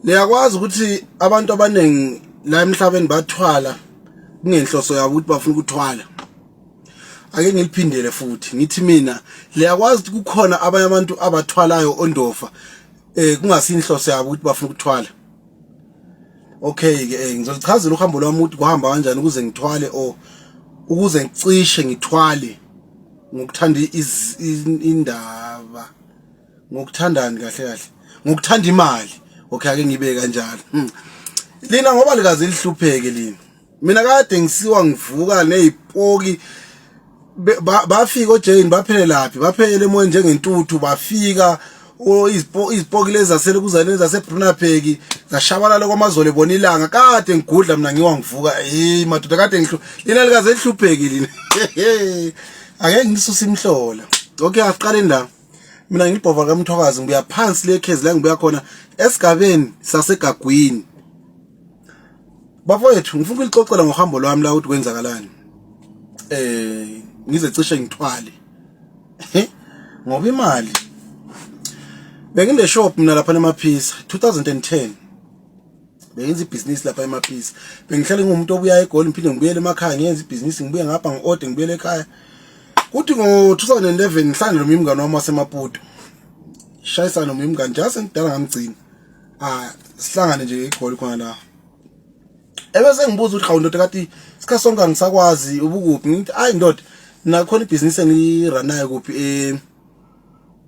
niyakwazi ukuthi abantu abaningi la emhlabeni bathwala kungenhloso yabo ukuthi bafuna ukuthwala ake ngiliphindele futhi ngithi mina liyakwazi ukuthi kukhona abanye abantu abathwalayo ondofa eh kungasinhloso yabo ukuthi bafuna ukuthwala okay ke eh, ngizolichazela uhambo lwami ukuthi kuhamba kanjani ukuze ngithwale o ukuze ngicishe ngithwale ngokuthanda indaba ngokuthandani kahle kahle ngokuthanda imali okay ake ngibe kanjalo hmm. lina ngoba likaze lihlupheke lina mina kade ngisiwa ngivuka nezipoki bafika ojayini baphelelaphi baphelele emoyeni njengentuthu bafika izipoki lezi zasele kuzane zasebrunapeki zashabalala kwamazole bona ilanga kade ngigudla mina ngiwa ngivuka hey madoda kade ngihlu lina likaze lihlupheki lina ake ngisuse imhlola okay asiqale la mina ngilibhova kamthokazi ngibuya phansi lekhezi la ngibuya khona esigabeni sasegagwini bafowethu ngifuna ukulixoxela ngohambo lwami la ukuthi kwenzakalani eh ngize cishe ngithwale ngoba imali bengine shop mina lapha nemaphisa 2010 bengenza ibhizinisi lapha emaphisi bengihlale ngumuntu obuya egoli ngiphinde ngibuyele emakhaya ngiyenza ibhizinisi ngibuye ngapha ngi-ode ngibuyele ekhaya kuthi ngo-2011 ngihlale noma imngane wami wasemaputo shayisana noma imngane njenga sengidala ngamgcina ah sihlangane nje egoli khona la ebese ngibuza ukuthi hawu ndoda kati sikhathi sonke angisakwazi ubukuphi ngithi ayi ndoda nakhona ibhizinisi engiranayo kuphi eh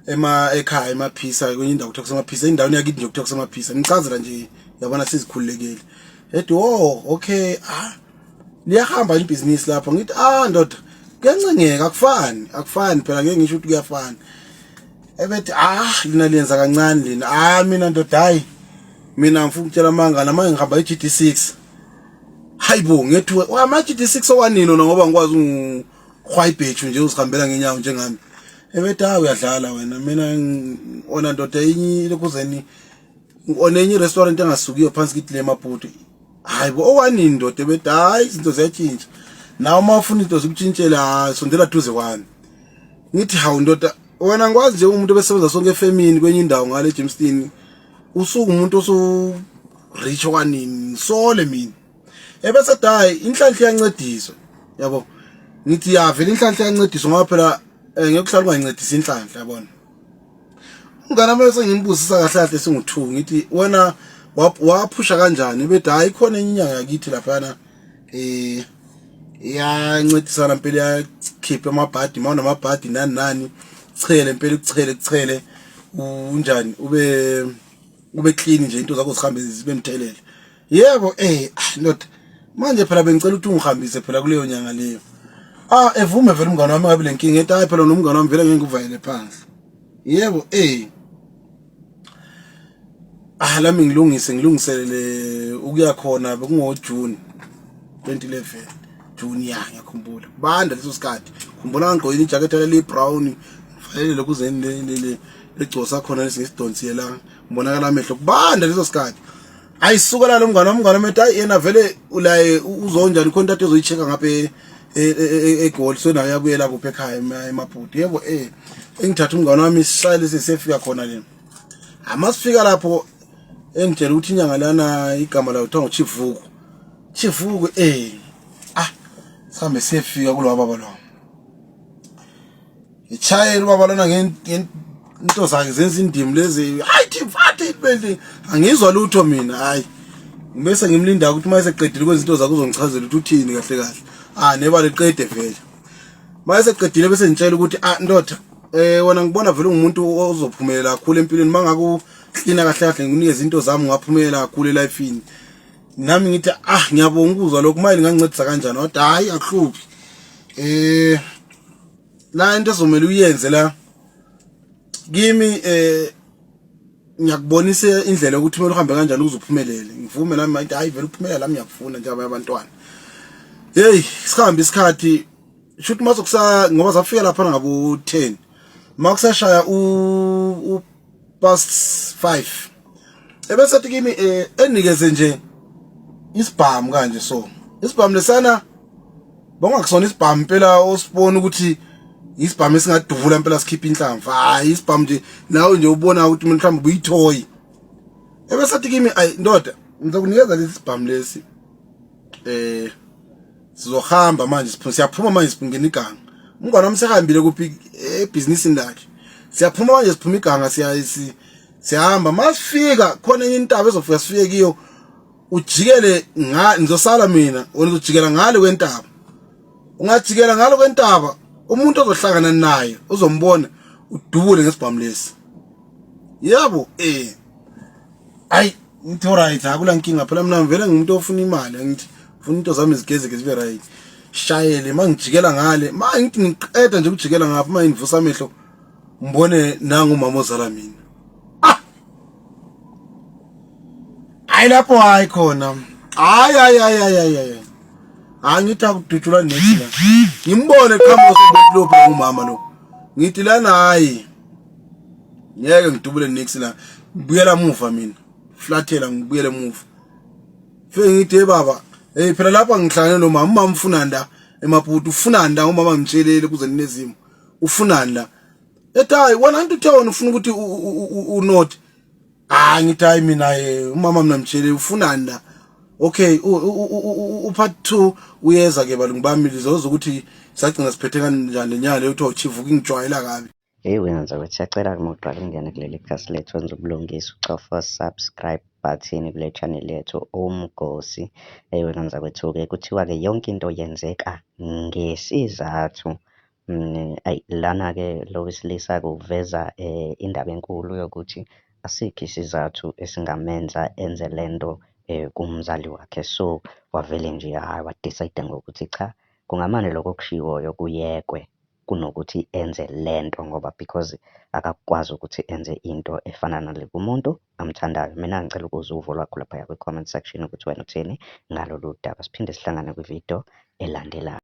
ema ekhaya emaphisa kwenye indawo kuthiwa kusemaphisa indawo yakini nje kuthiwa kusemaphisa ngicazela nje yabona sizikhululekile ethi oh okay ah liyahamba ibhizinisi lapho ngithi ah ndoda kuyancengeka akufani akufani phela ngeke ngisho ukuthi kuyafana ebethi ah lina liyenza kancane lina ah mina ndoda hayi mina ngifuna ukutshela amanga nama ngihamba i-GD6 hayibo ngethiwe ama-GD6 owanini ona ngoba ngikwazi khwayibhetshu nje uzihambela ngenyawo njengami ebethi hayi uyadlala wena mina ona ndoda enye lokuzeni ona enye restaurant engasukiyo phansi kithi le maputi hayi bo owanini ndoda ebethi hayi izinto ziyatshintsha nawe uma ufuna into zikutshintshele hayi sondela duze kwami ngithi hawu ndoda wena ngikwazi nje umuntu obesebenza sonke efemini kwenye indawo ngale Jamestown usuke umuntu osu rich okwanini sole mina ebese dayi inhlanhla iyancediswa yabo ngithi ya vele inhlanhla iyancediswa ngoba phela eh, ngekuhlala ungayincedisa inhlanhla yabona umngane wami sengimbuza kahle kahle singu2 ngithi wena waphusha kanjani bethi hayi khona enye inyanga yakithi laphana eh iyancedisana impela yakhipha amabhadi mawona amabhadi nani nani chele impela kuchele kuchele unjani ube ube clean nje into zakho zihambe zibe mthelele yebo eh ah, ndoda manje phela bengicela ukuthi ungihambise phela kuleyo nyanga leyo ah evume vele umngane wami ngabe lenkinga ethi hayi phela nomngane wami vele ngeke ngikuvayele phansi yebo eh ah lami ngilungise ngilungiselele ukuya khona bekungo June 2011 June ya ngiyakhumbula banda leso sikhathi khumbula ngigqokile ijacket le brown ngifayele lokhu zeni le le legcosa khona lesingisidonsiyela ngibonakala amehlo kubanda leso sikhathi hayi sukela lo mngane wami mngane methi hayi yena vele ulaye uzonjani khona into ezoyicheka ngapha e, e, e, eGoli so nayo yakuyela kuphi ekhaya emabhuti yebo eh engithatha umngane wami sisayile sesefika khona le amasifika lapho engitshela ukuthi inyanga lana igama layo kuthiwa nguchivuku chivuku eh ah sihambe sefika kulo baba lo Ngitshayela ubaba lona ngento zakhe zenza indimi lezi hayi thimfathe ibendi angizwa lutho mina hayi ngibese ngimlinda ukuthi uma eseqedile kwenza into zakhe uzongichazela ukuthi uthini kahle kahle ah neba liqede vele uma eseqedile bese ngitshela ukuthi ah ndoda eh wena ngibona vele ungumuntu ozophumelela kakhulu empilweni mangaku cleaner kahle kahle ngikunikeza izinto zami ngaphumelela kakhulu elifeini nami ngithi ah ngiyabonga ukuzwa lokho manje ngangincedisa kanjani kodwa hayi akuhluphi eh la into ezomele uyenze la kimi eh ngiyakubonisa indlela ukuthi kumele uhambe kanjani ukuze uphumelele ngivume nami manje hayi vele uphumelela lami ngiyakufuna njengoba abantwana hey sihambe isikhathi shuthi mazokusa ngoba zafika lapha ngabo 10 makusashaya u past 5 ebese athi kimi eh, enikeze nje isibhamu kanje so isibhamu lesana bongakusona isibhamu impela osibona ukuthi isibhamu esingaduvula impela sikhipha inhlamvu hayi isibhamu nje nawe nje ubona ukuthi mina mhlawumbe buyithoyi ebesathi kimi ayi ndoda ngizokunikeza lesi sibhamu lesi eh sizohamba manje siphuma siyaphuma manje siphungena iganga umngane wami sehambile kuphi ebhizinisini lakhe siyaphuma manje siphuma iganga siya siyahamba masifika khona enye intaba ezofika sifike kiyo ujikele nga ngizosala mina wena uzojikela ngale kwentaba ungajikela ngalo kwentaba umuntu ozohlangana naye uzombona udubule ngesibhamu lesi yabo eh ayi ngithi right akula nkinga phela mina ngivele ngimuntu ofuna imali ngithi funa into zami zigezeke zibe right shayele mangijikela ngale ma ngithi ngiqeda nje ukujikela ngapha ma ngivusa amehlo mbone nangu umama ozala mina ah hayi lapho hayi khona hayi hayi hayi hayi hayi angithi akudutshulwa nethi la ngimbone qhamuka sobulopha ngumama lo ngithi lana hayi ngeke ngidubule next la ngibuyela muva mina flathela ngibuyele muva fike ngithi hey baba hey phela lapha ngihlangane nomama umama ufuna nda emaputi ufuna nda umama ngitshelele kuze ninezimo ufuna la ethi hayi wena anti uthe wena ufuna ukuthi unot hayi ngithi hayi mina eh, umama mina mtshele ufuna nda okay upart 2 uyeza ke balungu bami lizoza ukuthi sagcina siphethe kanjani lenyanga leyo kuthiwa uchivuka ingijwayela kabi Hey wena nzakwethu siyacela uma uqala ukungena kuleli khasi lethu wenza ubulungisa ucofa subscribe button kule channel yethu umgosi hey wena nzakwethu-ke kuthiwa-ke yonke into yenzeka ngesizathu mm, ayi lana-ke lo wesilisa kuveza um indaba enkulu yokuthi asikho isizathu esingamenza enze le nto um kumzali wakhe so wavele nje hhayi wadicide ngokuthi cha kungamane lokho okushiwoyo kuyekwe kunokuthi enze lento ngoba because akakwazi ukuthi enze into efana nale kumuntu amthandayo. Mina ngicela ukuzwa uvo lwakho laphaya kwi-comment section ukuthi wena uthini ngalolu daba. Siphinde sihlangane kwi-video elandelayo.